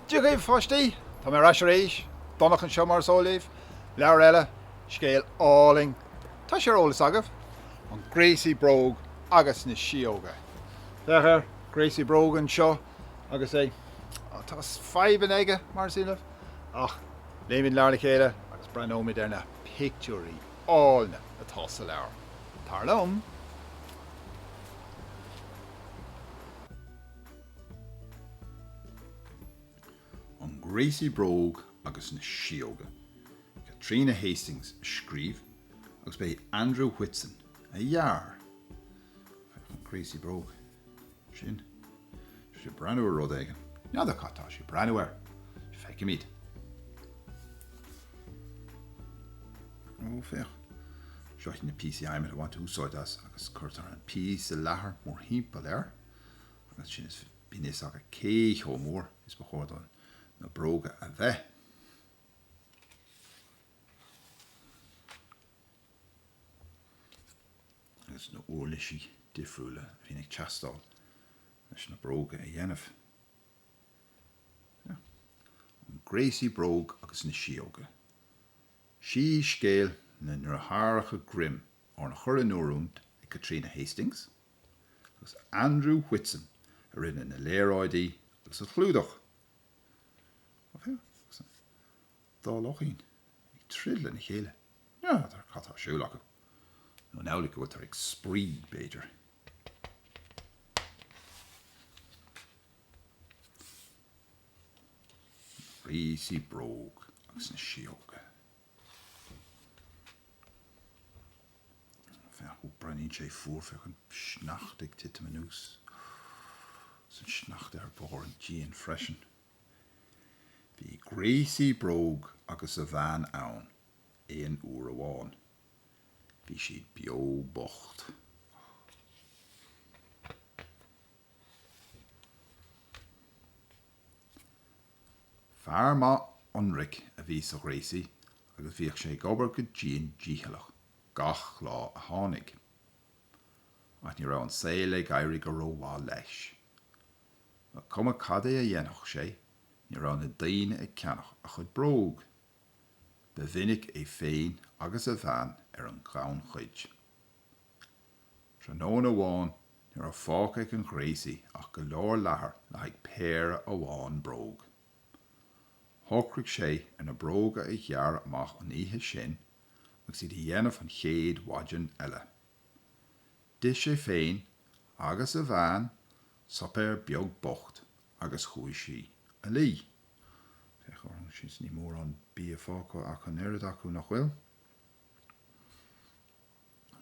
Dia dhaoibh pháistí! Tá mé ar ais arís, Donncha anseo mar is eol daoibh. Leabhar eile, scéal álainn. Tá sé ar eolas agaibh? An Gréasaí Bróg agus na Síóga. Féach ar an gréasaí bróg anseo. agus é tá fadhbanna aige mar is iondúil ach léimid leabhar le chéile agus breathnóimid ar na pictiúirí áille atá sa leabhar. Tar liom. An Gréasaí Bróg agus na Síóga. Caitríona Hastings a scríobh agus ba é Andrew Whitson a dhear. An Gréasaí Bróg. sin. Tá sé ag breathnú ar rud éigin. N'fheadar cad tá sé ag breathnú air. Feicfimid. Ó, féach. Seo iad na píosaí adhmaid a bhaintear úsáid astu agus cuirtear an píosa leathair mórthimpeall air agus sin is, bíonn a fhios agat cé chomh mór is ba chóir do na bróga a bheith. agus na huirlisí difriúla a bhíonn ag teastáil leis na bróga a dhéanamh. An gréasaí bróg agus na síóga. Síscéal na ndeartháireacha Grimm arna chur in oiriúint ag Caitríona Hastings agus Andrew Whitson a rinne na léaráidí agus an clúdach. Dhá luchín ag troid lena chéile. N'fheadar cad tá ar siúl acu. Nó an amhlaidh go bhfuiltear ag spraoi, b'fhéidir. An gréasaí bróg agus na síóga. Ó, breathnaíonn sé fuar, féach an sneachta ag titim anuas. Is an sneachta ar bharr an díon freisin. Bhí gréasaí bróg agus a bhean ann aon uair amháin. Bhí siad beo bocht. Fear maith ionraic a bhí sa ghréasaí agus bhíodh sé ag obair go dian dícheallach gach lá a tháinig. Ach ní raibh an saol ag éirí go rómhaith leis. Ba cuma cad é a dhéanfadh sé, ní raibh na daoine ag ceannach a chuid bróg. Ba mhinic é féin agus a bhean ar an ghannchuid. Tráthnóna amháin ní raibh fágtha ag an ghréasaí ach go leor leathair le haghaidh péire amháin bróg. Shocraigh sé ar na bróga a ghearradh amach an oíche sin agus iad a dhéanamh an chéad mhaidin eile. D'ith sé féin agus a bhean suipéar beag bocht agus chuaigh siad a luí. Féach orthu sin, níl mórán bia fágtha ach an oiread acu, nach bhfuil?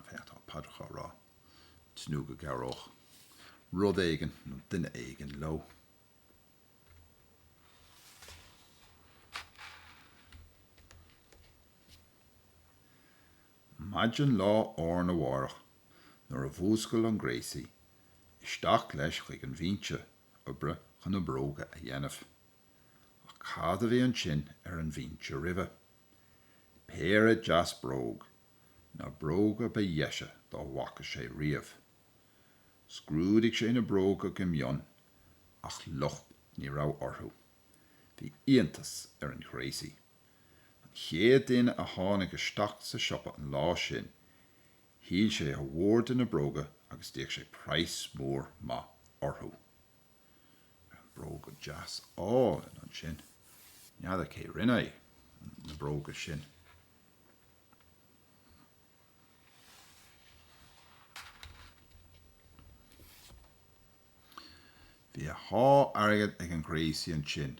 Féach, tá paidreacha á rá, tnúth go gcabhródh rud éigin nó duine éigin leo. Maidin lá arna mhárach nuair a mhúscail an gréasaí, isteach leis chuig an bhinse oibre chun na bróga a dhéanamh. Ach cad a bhí ansin ar an bhinse roimhe? Péire deas bróg, na bróga ba dheise dá bhfaca sé riamh. Scrúdaigh sé na bróga go mion ach locht ní raibh orthu. Bhí iontas ar an ghréasaí. An chéad duine a tháinig isteach sa siopa an lá sin, shíl sé a mhór de na bróga agus d'íoc sé praghas mór maith orthu. Bróga deasa áille ansin. N'fheadar cé rinne na bróga sin. Bhí a sháith airgid ag an ghréasaí ansin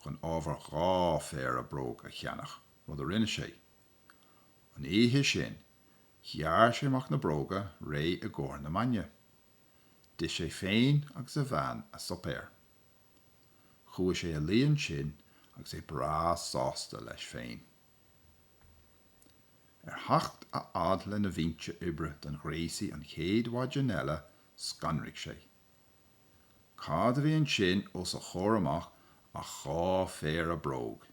chun ábhar dhá phéire bróg a cheannach, rud a rinne sé. An oíche sin, ghearr sé amach na bróga réidh i gcomhair na maidne. D'ith sé féin agus a bhean a suipéar. Chuaigh sé a luí ansin agus é breá sásta leis féin. Ar theacht a fhad lena bhinse oibre don ghréasaí an chéad mhaidin eile scanraigh sé. Cad a bhí ansin os a chomhair amach ach dhá phéire bróg,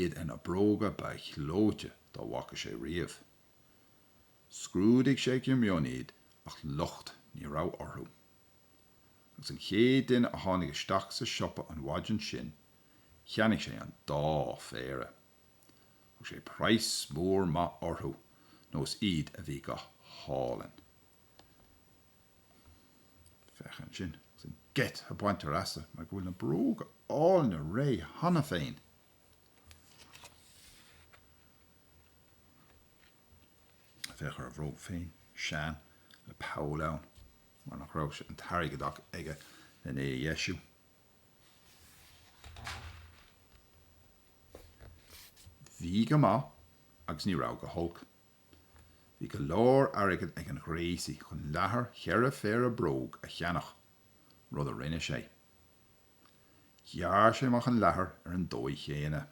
iad ar na bróga ba ghleoite dá bhfaca sé riamh. Scrúdaigh sé go mion iad ach locht ní raibh orthu. agus an chéad duine a tháinig isteach sa siopa an mhaidin sin, cheannaigh sé an dá phéire. Thug sé praghas mór maith orthu nó is iad a bhí go hálainn. Féach ansin agus an geit a baintear as mar go bhfuil na bróga áille réidh cheana féin. féach ar a bhróg féin, sean, le poll ann mar nach raibh sé an t-airgead aige lena é a dheisiú. Bhí go maith agus ní raibh go holc. Bhí go leor airgid ag an ghréasaí chun leathar cheithre phéire bróg a cheannach, rud a rinne sé. Ghearr sé amach an leathar ar an dóigh chéanna.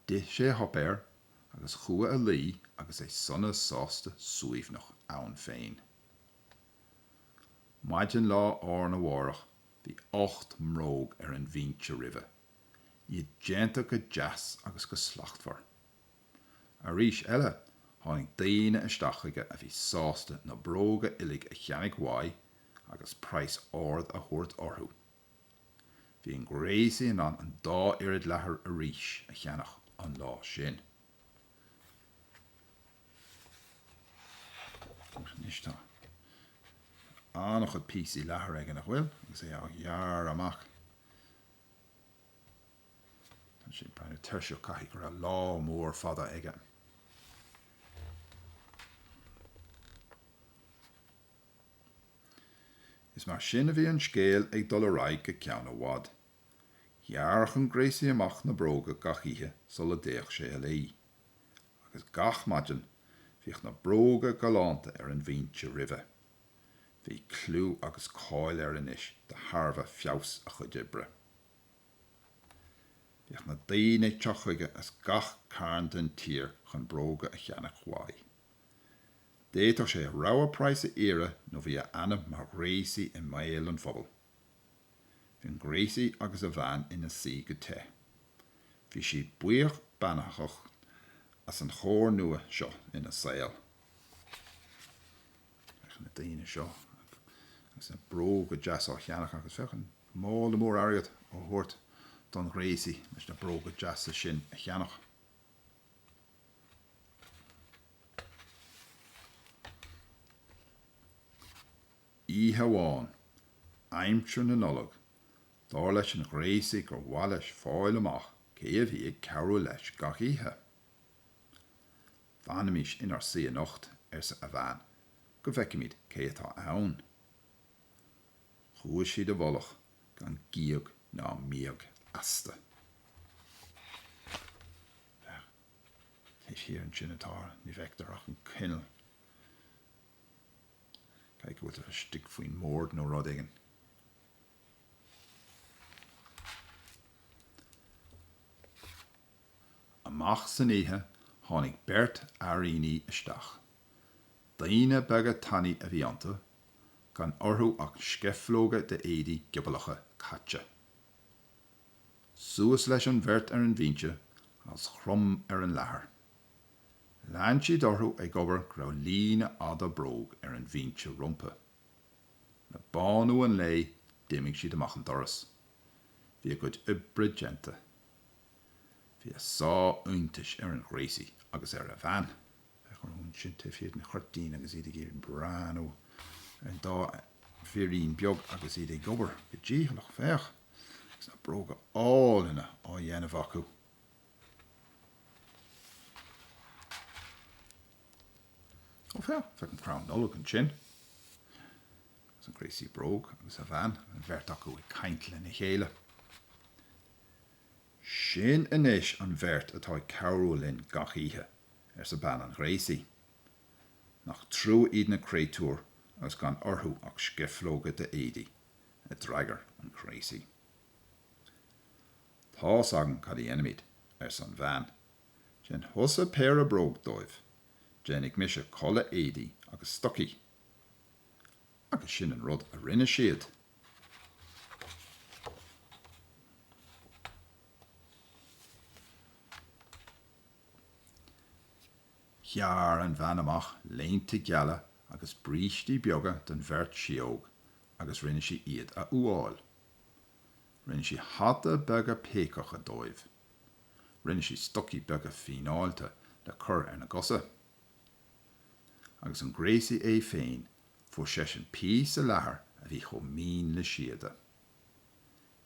D'ith sé a shuipéar agus chuaigh a luí agus é sona sásta suaimhneach ann féin. Maidin lá arna mhárach bhí ocht mbróg ar an bhinse roimhe, iad déanta go deas agus go slachtmhar. Arís eile tháinig daoine isteach chuige a bhí sásta na bróga uilig a cheannach uaidh agus praghas ard a thabhairt orthu. Bhí an gréasaí in ann an dá oiread leathair arís a cheannach an lá sin. Anois tá an-chuid píosaí leathair aige, nach bhfuil? Agus é á ghearradh amach. Tá sé ag breathnú tuirseach, caithfidh go raibh lá mór fada aige. Is mar sin a bhí an scéal ag dul ar aghaidh go ceann i bhfad. Ghearradh an gréasaí amach na bróga gach oíche sula dtéadh sé a luí. Agus gach maidin, bhíodh na bróga galánta ar an bhinse roimhe. Bhí clú agus cáil air anois de thairbhe feabhas a chuid oibre. Bhíodh na daoine ag teacht chuige as gach carn den tír chun bróga a cheannach uaidh. D'fhéadfadh sé a rogha praghas a iarraidh nó bhí a ainm mar ghréasaí i mbéal an phobail. Bhí an gréasaí agus a bhean ina suí go te. Bhí siad buíoch beannachtach as an chóir nua seo ina saol. Féach na daoine seo agus na bróga deasa á cheannach agus féach an mála mór airgid á thabhairt don ghréasaí leis na bróga deasa sin a cheannach. oíche amháin, aimsir na Nollag, dar leis an ghréasaí gur mhaith leis fáil amach cé a bhí ag cabhrú leis gach oíche. Fanaimis inár suí anocht, arsa a bhean, go bhfeicimid cé atá ann. Chuaigh siad i bhfolach. gan gíog ná míog astu. Féach, taobh thiar ansin atá, ní fheictear ach an coinneal. Caithfidh go bhfuiltear istigh faoin mbord nó rud éigin. Amach san oíche tháinig beirt fheairíní isteach. Daoine beaga tanaí a bhí iontu gan orthu ach scifleoga d'éadaí giobalacha caite. Suas leis an bheirt ar an bhinse is chrom ar an leathar. Lean siad orthu ag obair go raibh líne fhada bróg ar an bhinse rompu. Le bánú an lae d'imigh siad amach an doras. Bhí a gcuid oibre déanta. Bhí a sáith iontais ar an ghréasaí agus ar a bhean. Féach ansin taobh thiar den chuirtín agus iad ag iarraidh breathnú ar an dá fhirín beag agus iad ag obair go dícheallach, féach, agus na bróga áille á dhéanamh acu. Ó, féach, féach an crann Nollag ansin. Agus an gréasaí bróg agus a bhean, an bheirt acu ag caint lena chéile. Sin anois an bheirt atá ag cabhrú linn gach oíche, arsa bean an ghréasaí. Nach trua iad na créatúir agus gan orthu ach scifleoga d'éadaí, a d'fhreagair an gréasaí. Tá's agam cad a dhéanfaimid, arsa an bhean. Déan thusa péire bróg dóibh. Déanfaidh mise culaith éadaí agus stocaí. Agus sin an rud a rinne siad. Ghearr an bhean amach léinte geala agus brístí beaga don bheirt sióg agus rinne sí iad a fhuáil. Rinne sí hataí beaga péacacha dóibh. Rinne sí stocaí beaga fíneáilte le cur ar a gcosa. agus an gréasaí é féin, fuair seisean píosa leathair a bhí chomh mín le síoda.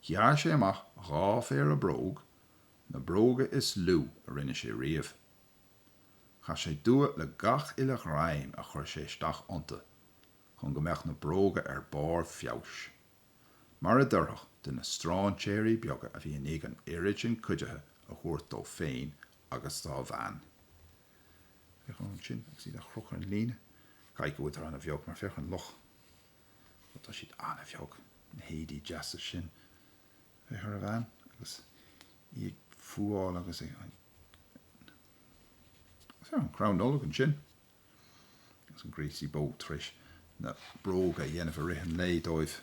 Ghearr sé amach dhá phéire bróg, na bróga is lú a rinne sé riamh. Chaith sé dua le gach uile ghreim a chuir sé isteach iontu chun go mbeadh na bróga ar barr feabhais, mar a d'oirfeadh do na stráinséirí beaga a bhí i ndiaidh an oiread sin cuidithe a thabhairt dó féin agus dá bhean. Féach orthu ansin agus iad á gcrochadh ar an líne. Caithfidh go bhfuil siad an-bheag mar féach ar an luch. Ó tá siad an-bheag, na héadaí deasa sin. Féach ar an bhean agus í ag fuáil agus ag. Agus féach an crann Nollag ansin. Agus an gréasaí bróg tar éis na bróga a dhéanamh i rith an lae dóibh.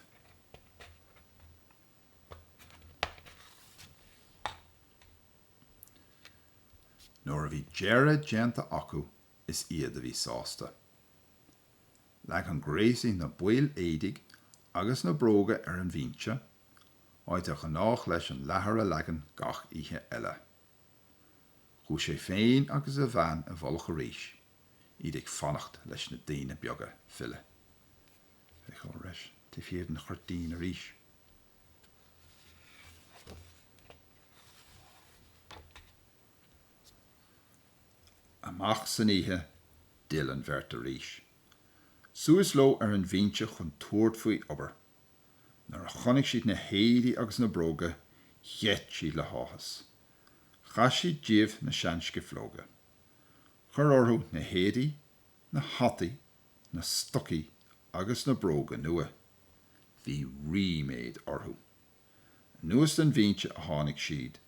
Nuair a bhí deireadh déanta acu is iad a bhí sásta. Leag an gréasaí na baill éadaigh agus na bróga ar an bhinse, áit ar ghnách leis an leathar a leagan gach oíche eile. Chuaigh sé féin agus a bhean i bhfolach arís, iad ag fanacht leis na daoine beaga filleadh. Féach orthu arís taobh thiar den chuirtín arís. Amach san oíche, d'fhill an bheirt arís. Suas leo ar an bhinse chun tabhairt faoi obair. Nuair a chonaic siad na héadaí agus na bróga, gheit siad le háthas. Chaith siad díobh na seanscifleoga. Chuir orthu na héadaí Na hataí, na stocaí agus na bróga nua. Bhí ríméad orthu. Anuas den bhinse a tháinig siad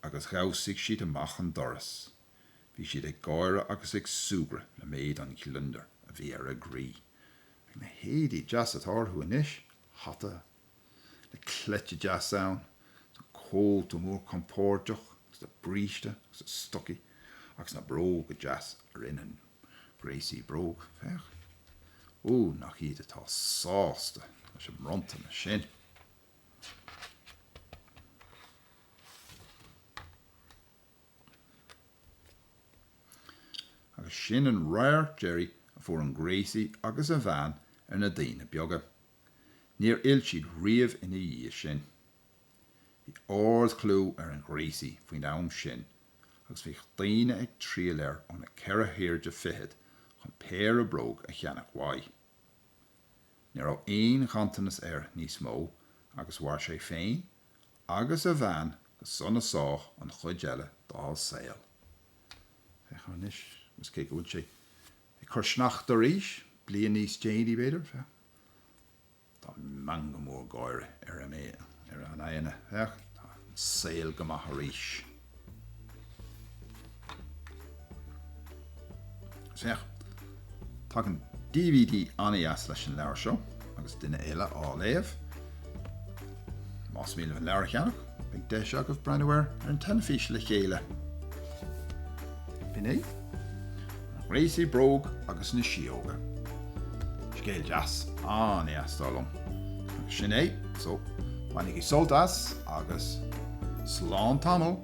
agus dhamhsaigh siad amach an doras. Bhí siad ag gáire agus ag súgradh le méid an ghliondair a bhí ar a gcroí. Féach na héadaí deasa atá orthu anois, hata le cleite deas ann, agus an cóta mór compordach, agus an bríste, agus na stocaí agus na bróga deasa a rinne an gréasaí bróg, féach. Ó, nach iad atá sásta leis an mbronntanas sin! Agus sin an radharc deiridh a fuair an gréasaí agus a bhean ar na daoine beaga. Níor fhill siad riamh ina dhiaidh sin. Bhí ardchlú ar an ghréasaí faoin am sin agus bhíodh daoine ag triall air ó na ceithre hairde fichead chun péire bróg a cheannach uaidh. Ní raibh aon ghanntanas air níos mó agus mhair sé féin agus a bhean go sona sách an chuid eile dá saol. Féach air anois agus cé go bhfuil sé ag cur sneachta arís, bliain níos déanaí, b'fhéidir, féach. Tá meangadh mór gáire ar a n-aghaidheanna. Féach, tá an saol go maith arís. Féach, tagann dvd an-deas leis an leabhar seo agus duine eile á léamh. Más mian libh an leabhar a cheannach, beidh deis agaibh breathnú air ar an tinteán le chéile. B'in é, An Gréasaí Bróg agus na Síóga. Scéal deas, an-éasca liom. Agus sin é, so, bainigí sult as agus slán tamall!